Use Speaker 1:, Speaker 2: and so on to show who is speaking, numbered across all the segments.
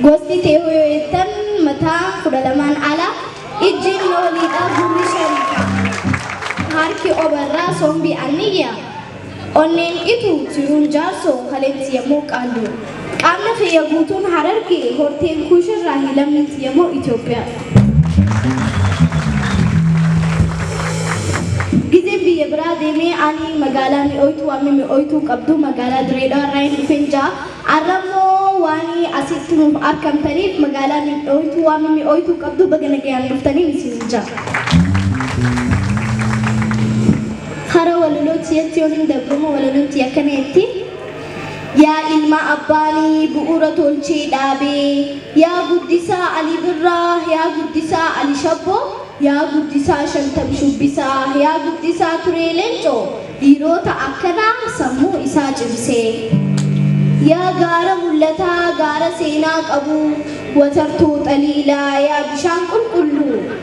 Speaker 1: Gosti teehoo yoo jettan mataa kudha lamaan ala ijji inni oliidhaa gurri shariika harki obarraa sombi anniyya Onneen dhitu tiruun jaarsoo haletti yemmoo qaalluu. Qaamni kiyya guutuun Hararge horteen Kuush irraahi lammiin tiyyammoo Itoophiyaa. Gizeen biyya biraa deemee ani magaalaa mi'ooytuu amma mi'ooytuu qabdu magaalaa Diree Dhawaa irraahin dhufeen jira. Arrammoo waani asitti nuuf arkamtaniif magaalaa mi'ooytuu waan mimmi'ooytuu qabdu baga nagayaan dhuftanin isiniin jaa. Hara walaloo tiyatti yoonin dabrumo walaloon tiyya akkana jetti Yaa ilma abbaani bu'uura tolchee dhaabe Yaa guddisaa Ali Birraa Yaa guddisaa Ali Shabboo Yaa guddisaa Shantam Shubbisaa Yaa guddisaa Turee Leencoo Dhiiroota akkanaa sammuu isaa cimsee Yaa gaara mul'ataa gaara seenaa qabu Watartuu Xaliilaa Yaa bishaan qulqulluu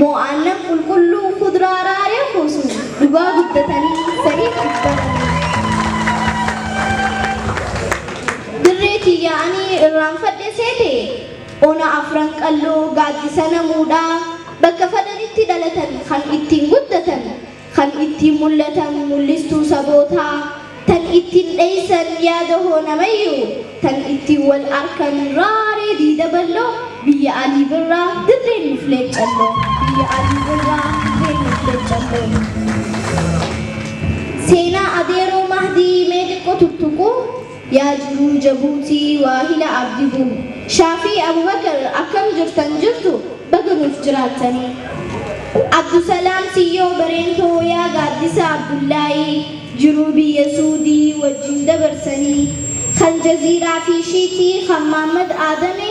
Speaker 1: Moo aannan qulqulluu kudraa raaree kuusu dhugaa guddatanii fedhii cubbananii Dirree tiyya ani irraanfadhe seete Ona afran qalloo gaaddisa namuudhaa Bakka fadanitti dhalatan kan ittiin guddatan Kan ittiin mul'atan mul'istuu sabootaa, tan ittiin dheessan yaada hoonamayyuu, tan ittiin wal arkan raaree diida balloo, biyya Alii Birraa, dirreen nuuf leeccalloo, biyya Alii Birraa, dirreen nuuf leeccalloo. Seenaa Adeeroo Mahdii mee xiqqo tuttuquu. Yaa jiruu jabuutii waahila abdi bu, shaa fi abubakar akkam jirtan jirtu baga nuuf jiraattanii abdusalaam siyyoo bareentoo yaa gaaddisa abdullaayii jiruu biyya suudii wajjin dabarsanii kan jaziiraa fi shiitii kan maammad aadame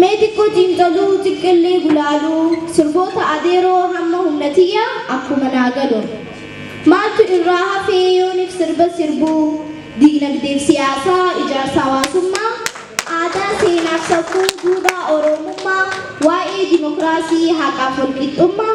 Speaker 1: Mee xiqqo xiinxaluu xiqqilli gulaaluu sirboota Adeeroo hamma humna tiyya akkuma naa galuun. Maaltu irraa hafee yoonif sirba sirbuu diignagdeef siyaasaa ijaarsa hawaasummaa aadaa seenaaf safuu duudhaa oroomummaa waa'ee dimokiraasii haqaaf walqixxummaa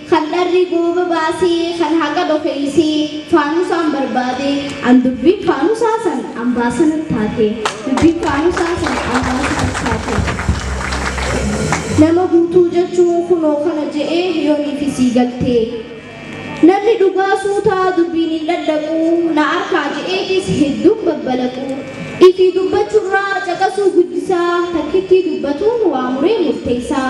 Speaker 1: Kan dharri gooba baasee kan haqa dhokeeysee faanusaan barbaadee an dubbiin faanusaa san ambaasa nat taatee dubbiin faanusaa san ambaasa nat taatee Nama guutuu jechuun kunoo kana je'ee yooniifi sii galtee Namni dhugaa suutaa dubbiin hin dhadhaquu na arkaa je'eetis hedduun babbalaquu Ifii dubbachurraa caqasuu guddisaa takkittii dubbatuun waa muree murteeysaa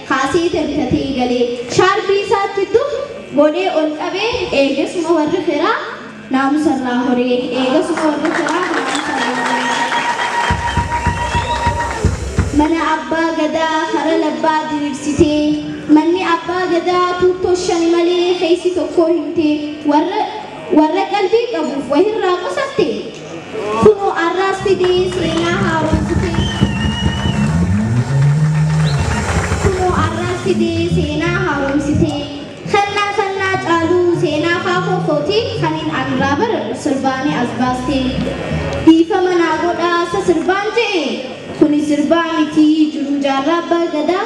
Speaker 1: Kaasii tebitatii galee shaarbii isaatti tuf godhee ol qabee eegasuma warri firaa naamusa irraa horee eegasuma warri firaa naamusa irraa horee mana abbaa gadaa kara labbaa diriirsitee manni abbaa gadaa tuuttoo shani malee keessi tokkoo himtee warra warra qalbii qabuuf wahirraa qusattee Kunoo arraas fidee seenaa haaromsu keessa. Kunoo arraas fidee seenaa haaromsitee. Kannaa kannaa caaluu seenaa kaakoo kootii kan hin anraa bar sirbaanii as baastee. Dhiifama naa godhaa sa sirbaan je'e kuni sirbaa mitii jiruu jaarraa abbaa gadaa.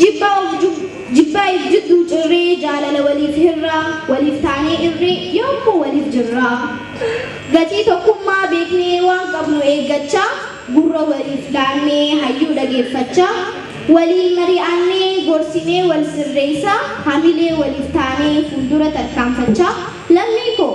Speaker 1: Jibbaa of jub jibbaa if jidduu cirree Jaalala waliif hirraa Waliif taanee irree Yoommuu waliif jirraa Gatii tokkummaa beeknee Waan qabnu eeggachaa Gurra waliif laannee Hayyuu dhageeffachaa Waliin mari'annee Gorsinee wal sirreessaa Hamilee waliif taanee Fuuldura tarkaanfachaa Lammii koo!